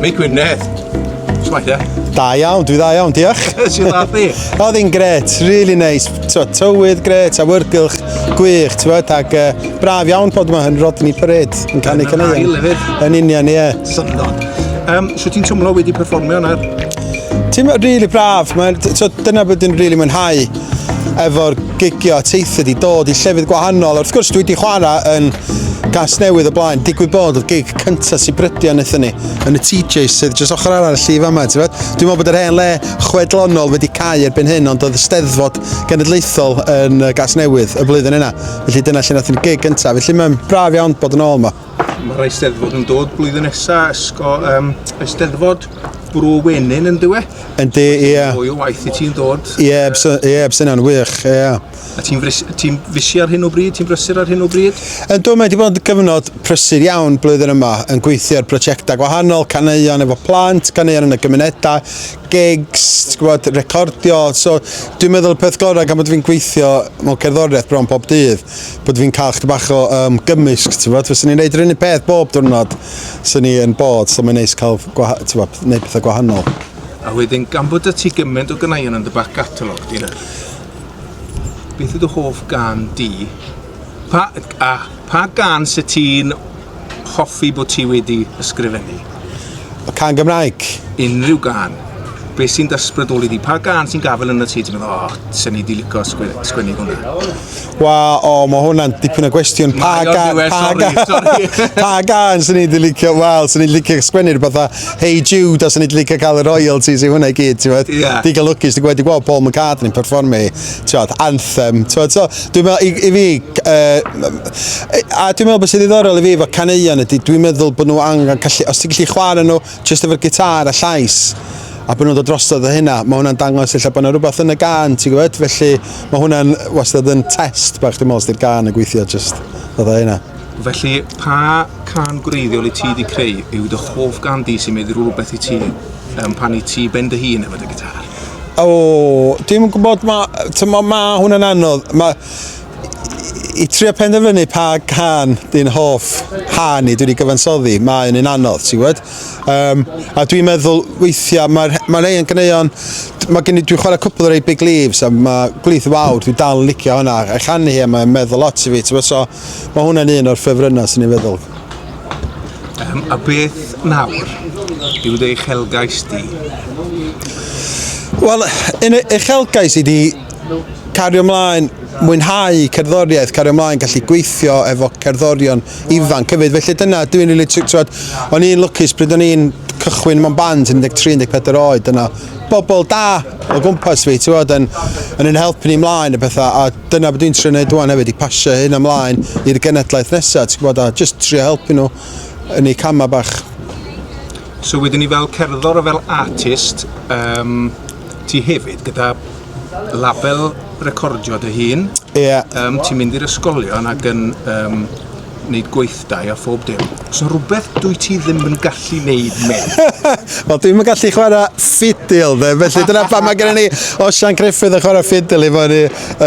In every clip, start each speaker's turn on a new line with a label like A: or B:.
A: Mi Gwynedd. Smaith, ie? Da iawn, dwi dda
B: iawn, diolch. Ti'n dda
A: di? Oedd hi'n gret,
B: really nice. Twa, tywydd gret, a wyrgylch gwych, ti'n bod, ac uh, braf iawn bod yma yn Rodney Parade, yn canu caneuon. Yn union, ie. Syndod.
A: Um, so ti'n teimlo wedi perfformio yna? Ti'n
B: really braf, so, dyna bod yn really mwynhau. efo'r gigio a teithio di dod i llefydd gwahanol. Wrth gwrs, dwi wedi chwarae yn gas newydd y blaen. Digwydd bod y gig cyntaf sy'n brydio yn eithon ni, yn y TJ sydd jyst ochr arall y llif yma. Dwi'n meddwl bod yr hen le chwedlonol wedi cael erbyn hyn, ond oedd y steddfod genedlaethol yn gas newydd y blwyddyn yna. Felly dyna lle nath ni'n gig gyntaf. Felly mae'n braf iawn bod yn ôl yma. Mae'r Eisteddfod
A: yn dod blwyddyn nesa, ysgo, um, Eisteddfod Bro Wenyn yn dywe. Yndi, ie. Yeah.
B: Mwy o waith i ti'n
A: dod. Ie, yeah, bse, yeah,
B: bse na'n wych, ie. Yeah. A
A: ti'n ti fysi ar hyn o bryd? Ti'n brysur ar hyn o bryd? Yn dwi, mae wedi bod yn
B: gyfnod prysur iawn blwyddyn yma, yn gweithio ar brosiectau gwahanol, caneuon efo plant, caneuon yn y gymunedau, gigs, ti'n gwybod, recordio. So, dwi'n meddwl y peth gorau gan bod fi'n gweithio mewn cerddoriaeth bron pob dydd, bod fi'n cael chdi bach o um, gymysg, ti'n gwybod. Fes ni'n gwneud yr unig peth bob diwrnod sy'n ni yn bod, so mae'n neis cael gwneud pethau gwahanol. A wedyn,
A: gan bod y ti gymaint o gynaion yn dy bac catalog di, beth yw dy hoff gan di? Pa, a, pa gan sy'n ti'n hoffi bod ti wedi ysgrifennu? Y can
B: Gymraeg. Unrhyw gan.
A: Be sy'n dysbrydoli di? Pa gan sy'n gafel yn y ti? Ti'n meddwl, o, oh, sy'n ni di licio sgwennu hwnna? Wel, o,
B: mae hwnna'n dipyn o gwestiwn. Pa gan, pa gan, pa gan sy'n ni di licio? Wel, sy'n ni di licio sgwennu rhywbeth a Hey Jude a sy'n ni di licio cael y royalties i hwnna i gyd, ti'n meddwl? Yeah. Digon lwcus, ti'n gwybod, wedi gweld Paul McCartney'n performu hi. tibod, anthem, tibod, so, dwi'n meddwl, i, i fi, uh, a dwi'n meddwl bod sy'n ddiddorol i fi efo caneuon ydy, dwi'n meddwl bod nhw angen gallu, os ti'n gallu chwarae nhw jyst efo'r gitar a llais, a bod nhw'n dod drosodd o hynna, mae hwnna'n dangos lle bod yna rhywbeth yn y gan, ti'n gwybod, felly mae hwnna'n wastad yn test bach, dwi'n meddwl, sydd gan y gweithio jyst, dod o hynna. Felly, pa
A: can gwreiddiol i ti wedi creu yw dy hoff gan di sy'n mynd rhywbeth i ti um, pan i ti ben dy hun efo dy gitar? O,
B: dim yn gwybod, mae, tymod, mae hwnna'n anodd. Mae, i trio penderfynu pa can di'n hoff han i dwi wedi gyfansoddi, mae'n un anodd, ti'n gwybod? Um, a dwi'n meddwl weithiau, mae'r mae rei yn gyneuon, mae gen i, dwi'n chwarae cwpl o rei Big Leaves, a mae Gwlith Fawr, dwi'n dal yn licio hwnna, a chanu hi, a mae'n meddwl lot i fi, ti'n gwybod? So, mae hwnna'n un o'r ffefrynnau, sy'n ni'n feddwl.
A: Yym, a beth nawr yw dy uchelgais di?
B: Wel, yn y uchelgais i di cario ymlaen, mwynhau cerddoriaeth, cario ymlaen, gallu gweithio efo cerddorion ifanc hefyd. Felly dyna, dwi'n rili, really, ti'n o'n i'n lwcus pryd o'n i'n cychwyn mewn band yn 13-14 oed, dyna bobl da o gwmpas fi, ti'n yn, yn yn helpu ni ymlaen y pethau, a dyna be dwi'n trio neud ŵan hefyd i pasio hyn ymlaen i'r genedlaeth nesa ti'n gwybod a jyst trio helpu nhw yn eu cama bach.
A: So wedyn ni fel cerddor a fel artist um, ti hefyd gyda label recordio dy hun. Ie. Yeah. Um, ti'n
B: mynd i'r
A: ysgolion ac yn um, wneud gweithdai a phob dim. Os yna rhywbeth dwi ti ddim yn gallu wneud, mate. Wel, dwi'n yn
B: gallu chwarae ffidil, dde, felly dyna pa mae gen i ni Osian Griffith yn chwarae ffidil i fod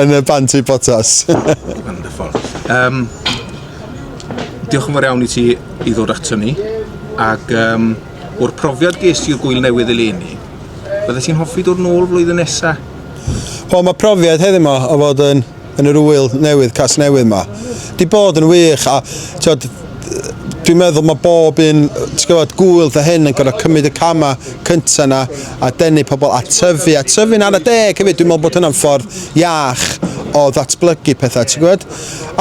B: yn y band i Potas. Wonderful.
A: Um, diolch yn fawr iawn i ti i ddod ato ni, ac um, o'r profiad ges i'r gwyl newydd eleni, bydde ti'n hoffi dod nôl flwyddyn nesaf? Wel, mae
B: profiad heddiw yma o fod yn yn yr ŵyl newydd Casnewydd 'ma. 'Di bod yn wych a t'od dwi'n meddwl mae bob un t'gwbod gŵyl dy hyn yn gorfod cymryd y cama cynta yna a denu pobl a tyfu a tyfu'n ara deg hefyd dwi'n meddwl bod hynna'n ffordd iach o ddatblygu pethau ti'n gwybod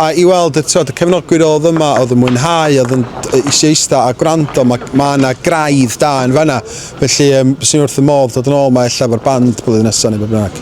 B: a i weld y t'od y cefnogwyr oedd yma oedd yn mwynhau oedd yn eisiau eista a gwrando mae mae yna graidd da yn fanna Felly, um, bys i'n wrth y modd dod yn ôl mae ella efo'r band blwyddyn nesaf neu beth bynnag.